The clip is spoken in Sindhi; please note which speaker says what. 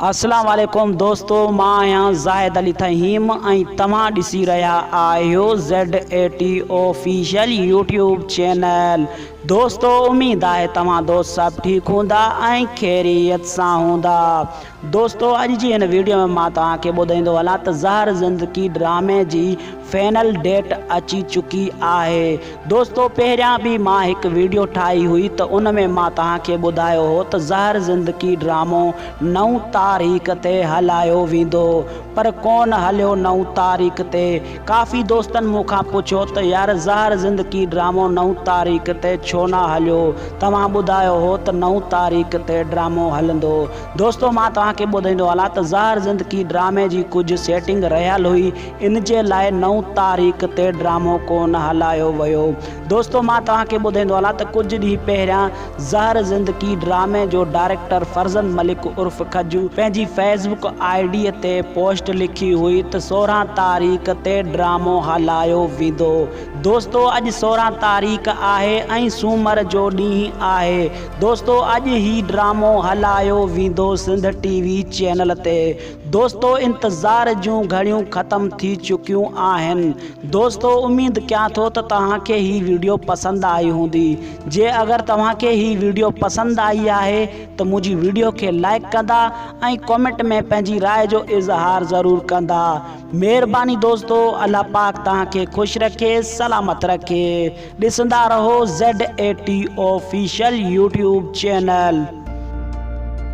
Speaker 1: السلام عليڪم دوستو مان آهيان زاهد علي فهيم ۽ توهان ڏسي رهيا آهيو ZATO Official يوٽيوب چينل دوستو اميد آهي توهان دوست سڀ ٺيڪ هوندا ۽ خيريت سان هوندا دوستو اڄ جي هن ويڊيو ۾ مان توهان کي ٻڌائيندو هلان ته زهر زندگي ڊرامي جي فينل ڊيٽ اچي چڪي آهي دوستو پهريان به مان هڪ ويڊيو ٺاهي هئي ته ان ۾ مان توهان کي ٻڌايو هو ته زهر زندگي ڊرامو نو تاريخ تي هلايو ويندو پر ڪون هليو نو تاريخ تي ڪافي دوستن مون کان پڇيو ته يار زهر زندگي ڊرامو نو تاريخ تي ڇو نه هليو توهان ٻڌايو هو ته نو تاريخ تي ڊرامو هلندو دوستو مان توهان کي ٻڌائيندو هلان ته زهر زندگي ڊرامي جي ڪجهه سيٽنگ رهيل هئي ان جي لاء نو تاريخ تي ڊرامو ڪونه هلايو ويو. دوستو مان توهان کي ٻڌائيندو هلان ته ڪجهه ڏينهن پهريان زهر زندگي ڊرامي جو ڊائريڪٽر فرزند ملڪ عرف کجو پنهنجي فيس بڪ آء ڊي تي پوسٽ لکي هئي ته سورهن تاريخ تي ڊرامو هلايو ويندو دوستو اڄ سورهن تاريخ آهي ۽ سومر جو ڏينهن آهي دوستو اڄ هي ڊرامو هلايو ويندو سنڌ ٽي وي چينل تي دوستو انتظار جون گهڙيون ختم ٿي چڪيون آهن دوستو اميد ڪيان ٿو ته توهان کي هي ويڊيو پسند آئي هوندي جي اگر توهان کي هي ويڊيو پسند آئي آهي ته منهنجي ويڊيو کي لائڪ ڪندا ۽ ڪومينٽ ۾ پنهنجي راء جو اظهار ضرور ڪندا مهرباني دوستو الله پاڪ توهان کي خوش رکي سلامت رکي ڏسندا رهو ZAT Official YouTube Channel